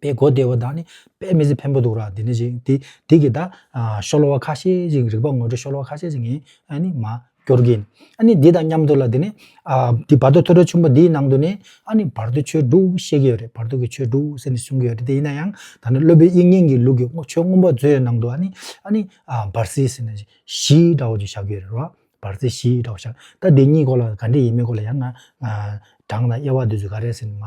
པའི་སྒོ་བདེ་བོ་དག་ནི་དཔེ་མི་ཟད་ཕན་པོ་འདུག་ར་འདི་ནི་ཞིག་འདི་འདི་གི་དག་ཤོ་ལོ་བ་ཁ་ཤས་ཤིག་རིག་པ་ངོ་སྤྲོད་ཤོ་ལོ་བ་ཁ་ཤས་ཤིག་ཡིན་ཨ་ནི་མ་སྐྱོར་གིན་ཨ་ནི་འདི་དང་མཉམ་དུ་ལ་འདི་ནི་ཨ་འདི་བར་དོ་ཐོས་གྲོལ་ཆུང་པོ་འདིའི་ནང་དུ་ནི་ཨ་ནི་བར་དོའི་ཆོས་དྲུག་བཤད་ཀྱི་ཡོད་རེད་བར་དོ་གི་ཆོས་དྲུག་ཟེར་ནས་གསུང་གི་ཡོད་རེད་དེ་ཡིན་ན་ཡང་ད་ནི་སློབ་དཔོན་དབྱིག་གཉེན་གྱི་ལུགས་ཀྱི་ཆོས་སྔོན་པོ་མཛོད་ཡོད་ནང་དུ་ཨ་ནི་ཨ་ནི་བར་སྲིད་ཟེར་ན་བཞི་འདྲ་བོ་ཅིག་བཞག་གི་ཡོད་རེད་རོ་བར་སྲིད་བཞི་འདྲ་བོ་བཞག་ད་འདི་གཉིས་སྐོར་ལ་ག་འདྲི་ཡིན་མིན་སྐོར་ལ་ཡང་ན་བགྲང་དང་དབྱེ་བ་འདི་ཚོས་ག་རེ་ཟེར་ནས་མ་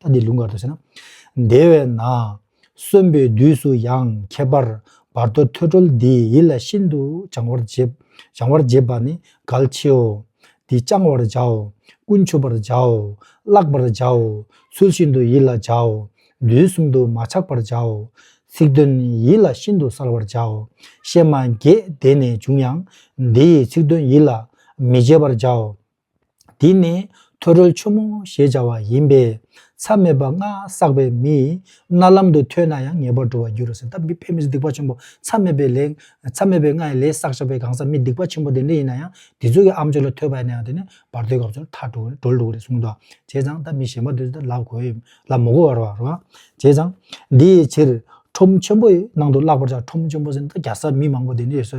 ད་འདི་ལུང་ག་དུ་ཟེར་ན། དེ་བས་ན། གསོན་པའི་དུས་སུ་ཡང་ཁྱད་པར་བར་དོ་ཐོས་གྲོལ་འདི་ཡིད་ལ་ཤིན་ཏུ་བྱང་བར་བྱེད་པ་ནི་གལ་ཆེའོ། འདི་བཅང་བར་བྱའོ། ཀུན་མཆོད་པར་བྱའོ། བཀླག་པར་བྱའོ། ཚུལ་བཞིན་དུ་ཡིད་ལ་བྱའོ། དུས་གསུམ་དུ་མ་ཆགས་པར་བྱའོ། ཚིག་དོན་ཡིད་ལ་ཤིན་ཏུ་གསལ་བར་བྱའོ། གཤེད་མ་བརྒྱད་དེ་ནས་བྱུང་ཡང། འདི་ཡི་ཚིག་དོན་ཡིད་ལ་མི་བྱེད་པར་བྱའོ། འདི་ནི་ཐོད་རོལ་ཆུ་མོ་ཞེས་བྱ་བ་ཡིན་པས། མཚམས་མེད་པ་ལྔ་བསགས་པའི་མིས་རྣ་ལམ་དུ་ཐོས་ན་ཡང་ངེས་པར་འགྲོ་བར་འགྱུར་རོ་ཟེར། ད་མི་ཕལ་མི་སྡིག་པ་ཆེན་པོ་མཚམས་མེད་པའི་ལས། མཚམས་མེད་པའི་ལྔའི་ལས་བསགས་བྱ་བའི་གང་ཟག་མི་སྡིག་པ་ཆེན་པོ་དེ་འདྲ་ཡིན་ན་ཡང་དེ་ཚོ་གི་ཨ་མཆོད་ལ་ཐོས་པ་ཡིན་ན་ཡང་དེ་ནི་བར་དོའི་སྐབས་སུ་མཐར་གྲོལ་འགྲོ་རུ་ལུགས་རེ་གསུངས་ཏོ། བྱས་ཙང་ད་མི་གཞན་པ་དེ་ཚོ་ལ་གོ་ཡི་ལ་མོ་གོ་བར་བར་རོ། བྱས་ཙང། དེའི་ཕྱིར་ཁྲོམ་ཆེན་པོའི་ནང་དུ་བརླག་པར་བྱ་ཁྲོམ་ཆེན་པོ་ཟེར་ན་ད་རྒྱ་བཟའ་མི་མང་པོ་དེ་འདྲས་སོ་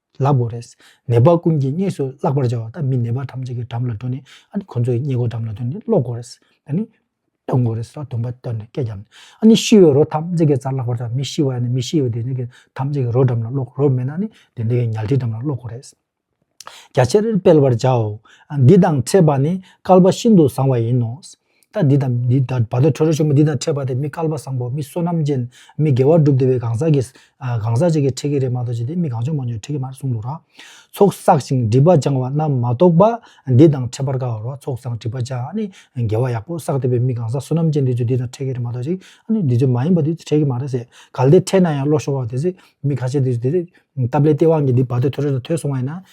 ལགས་པོ་རེད། ནད་པ་ཀུན་གྱིས་གཉིས་སུ་བརླག་པར་བྱ་བ་དང་མི་ནད་པ་ཐམས་ཅད་ཀྱི་འགྲམ་ལ་འགྲོ་ནས་ཨ་ནི་ཁོ་ཚོ་ཡི་སྙད་གོ་འགྲམ་ལ་འདོན་ནས་ཀློག་གོ་རེད། ཨ་ནི། སྟོན་གོ་རེད། སྟོན་པ་སྟོན་ནས་སྐད་བརྒྱབ་ནས་ཨ་ནི་ཤི་བའི་རོ་ཐམས་ཅད་ཀྱི་རྩར་བརླག་པར་བྱ་བ་མི་ཤི་བ་ཡང་ནི་མི་ཤི་བའི་བདེན་ཚིག་གི་ཐམས་ཅད་ཀྱི་རོ་འགྲམ་ལ་ཀློག་རོ་མེད་ན་ནི་བདེན་ཚིག་གི་ཉལ་ཁྲིའི་འགྲམ་ལ་ཀློག་གོ་རེད། རྒྱ་ཆེར་སྤེལ་བར་བྱའོ། འདི་དང་འཕྲད་པ་ནི་སྐལ་པ་ཤིན་ཏུ་བཟང་བ་ཡིན་ནོ། རྟ་འདི་དང་འདི་དང་བར་དོ་ཁྲོ་རོ་ཆེན་པོ་འདི་དང་འཕྲད་པ་དེ་མི་སྐལ་པ་བཟང་པོ་མི་བསོད་ནམས་ཅན་མི་དགེ་བ་བསྒྲུབ་བདེ་བའི་གང་ཟག་གིས་གང་ཟག་ཅིག་གིས་ཁྲིད་ཀྱི་རེད་མ་གཏོགས་ཅི་སྟེ་མི་གང་ཆུང་མང་ཆུང་ཁྲིད་ཀྱི་མ་རེད་གསུངས་འདུག་ར། ཚོགས་བསགས་ཤིང་སྒྲིབ་པ་སྦྱང་བ་རྣམས་མ་གཏོགས་པ་འདི་དང་འཕྲད་པར་དཀའ་བ་རོ་ཚོགས་བསགས་སྒྲིབ་པ་སྦྱང་ནི་དགེ་བ་ཡག་པོ་བསགས་བདེ་བའི་མི་གང་ཟག་བསོད་ནམས་ཅན་འདི་ཚོས་འདི་དང་འཕྲད་ཀྱི་རེད་མ་གཏོགས་ཅི་སྟེ་འདི་ཚོས་མ་ཡིན་པ་འདི་ཚོས་འཕྲད་ཀྱི་མ་རེད་ཟེར་གལ་ཏེ་འཕྲད་ན་ཡང་བློ་ཤོར་བ་དེ་སྲིད་མི་ཁ་ཤས་འདི་ཚོས་དེ་སྟབས་ལེགས་སྟེས་དབང་གིས་འདི་བར་དོ་ཁྲོ་རོ་དང་ཐོས་སོང་བ་ཡིན་ན་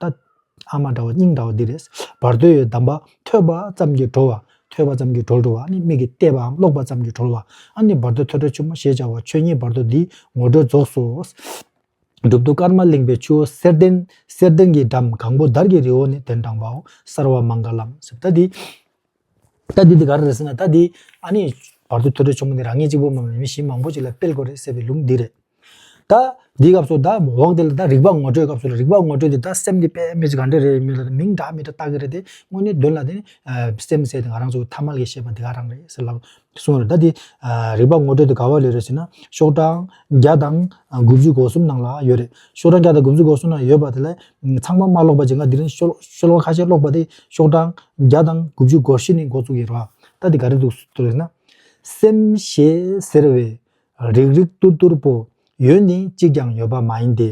ད། ཨ་མ་འདྲ་བ་སྙིང་འདྲ་བ་འདི་རེད། བར་དོའི་གདམས་པ་ཐོས་པ་ཙམ་གྱིས་གྲོལ་བ། ཐོས་པ་ཙམ་གྱིས་གྲོལ་འགྲོ་བ་ནི་མིག་གིས་བལྟས་པའམ་ཀློག་པ་ཙམ་གྱིས་གྲོལ་བ། ཨ་ནི་བར་དོའི་ཐོས་གྲོལ་ཆེན་མོ་ཞེས་བྱ་བ་ཆོས་ཉིད་བར་དོ་འདིའི་ངོ་སྤྲོད་རྫོགས་སོ། སྒྲུབ་ཐོ་ཀརྨ་གླིང་པའི་ཆུ་བོ་གསེར་ལྡན། གསེར་ལྡན་གྱི་འགྲམ་གང་པོ་དར་གྱི་རི་བོ་ནི་གདན་དྲངས་པའོ། གསར་བ་མངྒ་ལམ་གཟི་མདའ་འདི། ད་འདི་དེ་ག་རེ་རེད་ཟེར་ན་ད་འདི་ཨ་ནི། བར་དོའི་ཐོས་གྲོལ་ཆེན་མོ་འདི་རང་ཉིད་གཅིག་པུ་མ་ཡིན་མི་གཞི་མང་པོ་ཞིག་ལ་སྤེལ་དགོས་རེད་ཟེར་བའི་ལུགས་འདི་རེད། ད་འདིའི་སྐབས་སུ་ད་འོག་འདི་ལ་ད་རིག་པ་ངོ་སྤྲོད་སྐབས་སུ་ལ་རིག་པ་ངོ་སྤྲོད་འདི་ད་སེམས་འདི་པད་མེ་ཅིག་ག་འདྲ་རེད་མི་ལ་མིང་འདྲ་མི་འདྲ་བཏགས་ཀྱི་རེད་དེ་དངོས་གནས་དོན་ལ་དེ་ནི་སེམས་ཟེར་དེ་ང་རང་ཚོ་ཐ་མལ་གྱི་ཤེས་པ་འདི་ག་རང་རེད་ཟེར་ལབ་གསུངས་ཡོད། ད་དེ། རིག་པ་ངོ་སྤྲོད་དུ་ག་བ་ལས་རེད་ཟེར་ན། ཤོག་གྲངས་བརྒྱ་དང་དགུ་བཅུ་གོ་གསུམ་ནང་ལ་ཡོད་རེད། ཤོག་གྲངས་བརྒྱ་དང་དགུ་བཅུ་གོ་གསུམ་ནང་ཡོད་པ་དེ་ལས། ཚང་མ་མ་ཀློག་པ་ཅིག་ང་འདི་རིང་ཤོ་ལོ་ཀ་ཁ་ཤས་ཀློག་པ་དེ་ཤོག་གྲངས་བརྒྱ་དང་དགུ་བཅུ་གོ་བཞི་ནི་འགོ་བཙུགས་ཡིན་རོགས། ད་དེ་ག་རེ་འདུག་ཟེར་ན། སེམས་ཞེས་ཟེར་བའི། རིག་རིག་སྟུར་སྟུར་པོ། ཡོད་ནི་གཅིག་ཀྱང་ཡོད་པ་མ་ཡིན་ཏེ།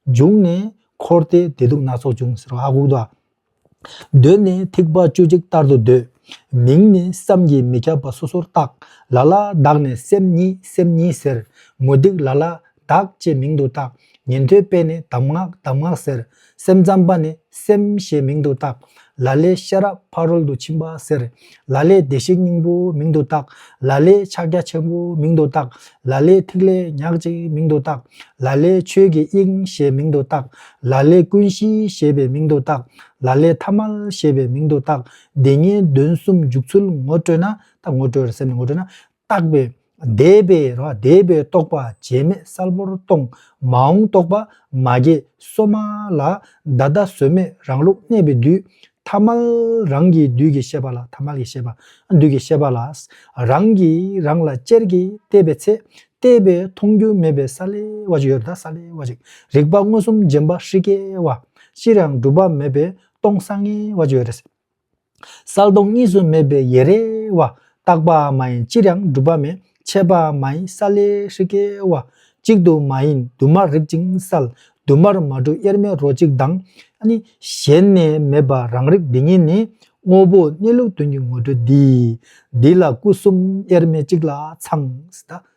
འབྱུང་ནས་འཁོར་ཏེ་བདེ་སྡུག་སྣ་ཚོགས་འབྱུང་ཟེར་བ་ཨ་ཁུག་རྡོ་ཨ། གདོད་ནས་ཐེག་པ་བཅུ་གཅིག་ལྟར་དུ་འདོད། མིང་ནི་བསམ་གྱིས་མི་ཁྱབ་པ་སོ་སོར་བརྟག། ལ་ལ་བདག་ནི་སེམས་ཉིད་སེམས་ཉིད་ཟེར། མུ་སྟེགས་ལ་ལ་བདག་ཅེས་མིང་དུ་བཏགས། ཉན་ཐོས་པས་ནི་གདམས་ངག་གདམས་ངག་ཟེར། སེམས་ཙམ་པ་ནི་སེམས་ཞེས་མིང་དུ་བཏགས། ལ་ལས་ཤེས་རབ་ཕ་རོལ་ཏུ་ཕྱིན་པ་ཟེར། ལ་ལས་བདེ་གཤེགས་སྙིང་པོ་མིང་དུ་བཏགས། ལ་ལས་ཕྱག་རྒྱ་ཆེན་པོ་མིང་དུ་བཏགས། ལ་ལས་ཐིག་ལེ་ཉག་གཅིག་མིང་དུ་བཏགས། ལ་ལས་ཆོས་ཀྱི་དབྱིངས་ཞེས་མིང་དུ་བཏགས། ལ་ལས་ཀུན་གཞི་ཞེས་པའི་མིང་དུ་བཏགས། ལ་ལས་ཐ་མལ་ཞེས་པའི་མིང་དུ་བཏགས། འདི་ཉིད་བདུན་གསུམ་འཇུག་ཚུལ་ངོ་སྤྲོད་ན། ད་ངོ་སྤྲོད་སེམས་ནི་ངོ་སྤྲོད་ན། བརྟགས་པས་འདས་པའི་འདས་པའི་རྟོག་པ་རྗེས་མེད་གསལ་པོར་སྟོང། མ་འོངས་རྟོག་པ་མ་སྐྱེས་སོ་མ་ལ། བདག་ལྟ་བཟོད་མེད་རང་ལུགས་གནས་པའི་དུས། ཐ་མལ་རང་གི་དུས་ཀྱི་ཤེས་པ་ལ་ཐ་མལ་གྱི་ཤེས་པ། དུས་ཀྱི་ཤེས་པ་ལ། རང་གིས་རང་ལ་ཅེར་གྱིས་བལྟས་པའི་ཚེ། བལྟས་པས་མཐོང་རྒྱུ་མེད་པའི་ས་ལེ་བ་ཅིག་ཡོད་ད་ས་ལེ་བ་ཅིག། རིག་པ་མངོན་སུམ་རྗེན་པ་ཧྲིག་གེ་བ། ཅིར་ཡང་གྲུབ་པ་མེད་པའི་སྟོང་ས་ངེ་བ་ཅིག་ཡོད། གསལ་སྟོང་གཉིས་སུ་མེད་པའི་ཡེ་རེ་བ། རྟག་པའང་མ་ཡིན་ཅིར་ཡང་གྲུབ་པ་མེད། ཆད་པའང་མ་ཡིན་ས་ལེ་ཧྲི་ཀའི་བ། གཅིག་ཏུ་མ་ཡིན་དུ་མར་རིག་ཅིང་གསལ། དུ་མར་མ་གྲུབ་དབྱེར་མེད་རོ་གཅིག་དང། གཞན་ནས་མེད་པ་རང་རིག་འདི་ཉིད་ནི། དངོས་པོ་གནས་ལུགས་དོན་གྱི་ངོ་སྤྲོད་འདི། འདི་ལ་སྐུ་གསུམ་དབྱེར་མེད་གཅིག་ལ་ཚང།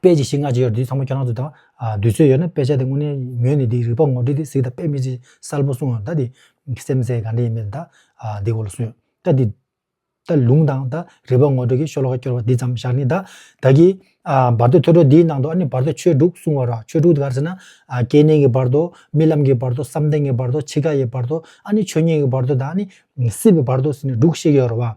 དཔེ་ཅི་ཞིག་སྔ་ཕྱི་ཡོད་དེ་ཚང་མ་ཁྱོད་རང་ཚོ་དང་འདུས་ཚོད་ཡོད་ན་དཔེ་ཆ་དེ་དངོས་གནས་ཉོས་ནས་དེའི་རིག་པ་ངོ་སྤྲོད་དེ་གཟིགས་ད་དཔེ་མི་ཅི་གསལ་པོ་གསུང་ད་དེ་སེམས་གསལ་ག་འདྲ་ཡིན་མིན་ད་འདི་གོ་ལ་གསུང་ད་དེ་ད་ལུང་དང་ད་རིག་པ་ངོ་སྤྲོད་ཀྱི་ཤོ་ལོ་ཀ་སྐྱོར་བ་འདི་ཙམ་བཞག་ནི་ད་ད་གི་བར་དོ་ཐོས་གྲོལ་འདིའི་ནང་དུ་ཨ་ནི་བར་དོ་ཆོས་དྲུག་གསུང་བ་ར་ཆོས་དྲུག་དེ་ག་རེ་ཟེར་ན་སྐྱེ་གནས་ཀྱི་བར་དོ་རྨི་ལམ་གྱི་བར་དོ་བསམ་གཏན་གྱི་བར་དོ་འཆི་ཁ་ཡི་བར་དོ་ཨ་ནི་ཆོས་ཉིད་ཀྱི་བར་དོ་དང་ཨ་ནི་སྲིད་པའི་བར་དོ་ཟེར་ནས་དྲུག་བཤད་ཀྱི་ཡོད་རེད་བ།